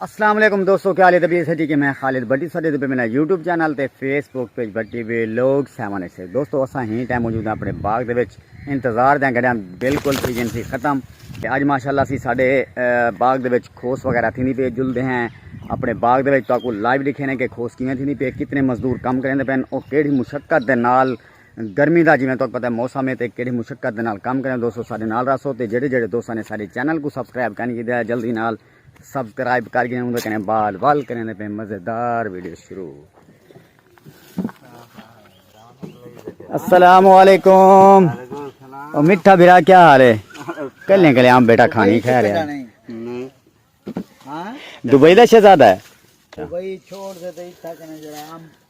السلام علیکم دوستو کیا لیتا بھی سٹی کے میں خالد بٹی سٹی دے پہ میرا یوٹیوب چینل تے فیس بک پیج بٹی وی لوگ سیون ایسے دوستو اسا ہی ٹائم موجود ہیں اپنے باغ دے وچ انتظار دیں گڑیاں بالکل سیزن سی ختم تے اج ماشاءاللہ سی ساڈے باغ دے وچ کھوس وغیرہ تھی نہیں پہ جل دے ہیں اپنے باغ دے وچ تو کو لائیو دکھے نے کہ کھوس کیویں تھی نہیں پہ کتنے مزدور کم کریں دے پین او کیڑی مشقت دے نال گرمی دا جیویں تہاکوں پتہ ہے موسم ہے تے کیݙی مشقت دے نال کم کریندے دوستو ساݙے نال رہسو تے جیڑھے جیڑھے دوستاں نے ساݙے چینل کوں سبسکرائب کائنی کیتا ہے جلدی نال سبسکرائب کر گھن اوندے کنے بعد ول کریندے پئے مزیدار ویڈیو شروع السلام علیکم او مٹھا بھرا کیا حال ہے کلیں کلیں آم بیٹا کھانی کھا رہے ہیں دبئی دا شہزادہ ہے دبئی چھوڑ دے تے اتھا کنے جڑا آم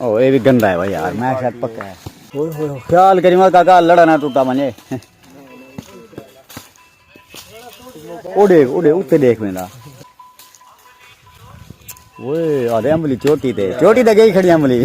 او اے وی گندا ہے بھائی یار میں شاید پکا ہے اوئے ہوئے خیال کری مت کاکا لڑا نہ ٹوٹا منجے او دیکھ او دیکھ اوتے دیکھ ویندا اوئے آدے املی چوٹی تے چوٹی تے گئی کھڑی املی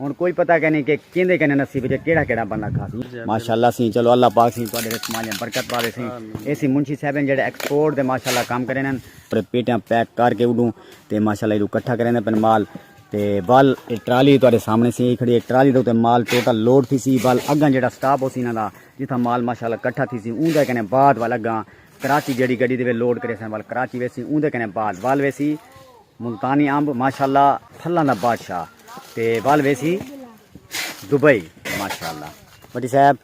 ہن کوئی پتہ کینی کہ کیندے کنے نصیب جے کیڑا کیڑا بندہ کھا سی ماشاءاللہ سی چلو اللہ پاک سی تواڈے رزق مالیاں برکت پاوے سی اے سی منشی صاحب ہیں جڑے ایکسپورٹ دے ماشاءاللہ کام کرے نن پر پیٹیاں پیک کر کے اڈوں تے ماشاءاللہ ایڈو کٹھا کرے نن پن مال تے بال ٹرالی تواڈے سامنے سی کھڑی ایک ٹرالی دے تے مال ٹوٹل لوڈ تھی سی بال اگاں جڑا سٹاپ ہو سی نہ دا جتھا مال ماشاءاللہ کٹھا تھی سی اون دے کنے بعد والا گاں کراچی جڑی گڈی دے لوڈ کرے سن وال کراچی ویسی اون دے کنے بعد وال ویسی ملتانی امب ماشاءاللہ پھلاں دا بادشاہ تے ول ویسی دبئی ماشاءاللہ بٹی صاحب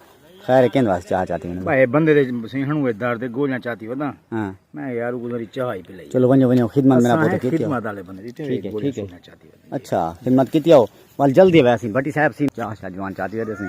خیر ہے کیند واسطے چاہ چاتی ہوں بھائی بندے دے سیحن ہوئے درد دے گولیاں چاتی ودا ہاں میں یار کو ذری چاہ ہی پلائی چلو ونجو ونجو خدمت میرا پوت کیتی خدمت والے بندے دی ٹھیک ہے ٹھیک ہے چاتی اچھا خدمت کیتی ہو ول جلدی ویسی بٹی صاحب سی چاہ شاہ جوان چاتی دے سی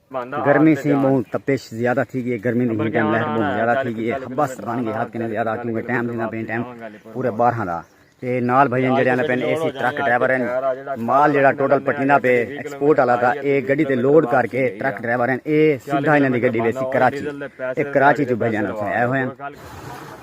گرمی سی بہوں تپش زیادہ تھی گئی ہے گرمی دی ہیٹ اینڈ لہر بہوں زیادہ تھی گئی ہے حبس بن گئی حد کنے زیادہ کیونکہ ٹائم دینا پین ٹائم پورے بارہ دا تے نال بھائی جڑے آنے پین اے سی ٹرک ڈرائیور ہیں مال جڑا ٹوٹل پٹینا پہ ایکسپورٹ والا تھا اے گڈی تے لوڈ کر کے ٹرک ڈرائیور ہیں اے سیدھا انہاں دی گڈی ویسی کراچی اے کراچی جو بھائی جانا تھا اے ہوئے ہیں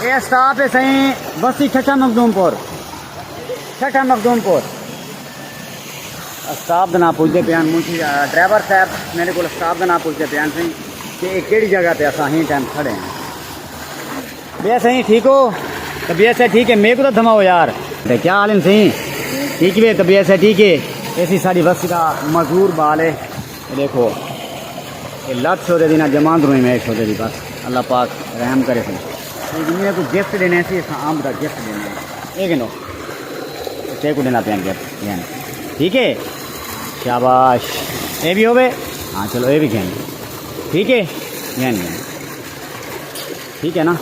اے اسٹاپ ہے سائیں بستی ٹھٹھا مخدوم پور ٹھٹھا مخدوم پور اسٹاپ دے نال پوچھدے پیان مونجی ڈرائیور صاحب میرے کول اسٹاپ دے نال پوچھدے پیان سائیں کہ اے کیڑی جگہ تے اساں ہی ٹائم کھڑے ہیں بے سائیں ٹھیک ہو تو بے سائیں ٹھیک ہے میرے کو تو دھماؤ یار تے کیا حال ہیں سائیں ٹھیک ہے تو بے سائیں ٹھیک ہے ایسی ساری بستی دا مزدور بال ہے اے ڈیکھو اے لت سو دے دی نہ جمان دروں میں سو دے دی بس اللہ پاک رحم کرے سن اے دنیا کو گفٹ دینے سی اساں آمب دا گفٹ دینے اے گنو تے کو دینا پین گفٹ گین ٹھیک ہے شاباش اے بھی ہوے ہاں چلو اے بھی گین ٹھیک ہے گین گین ٹھیک ہے نا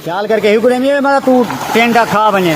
خیال کر کے ہی کو دینے مطلب تو ٹینڈا کھا بنے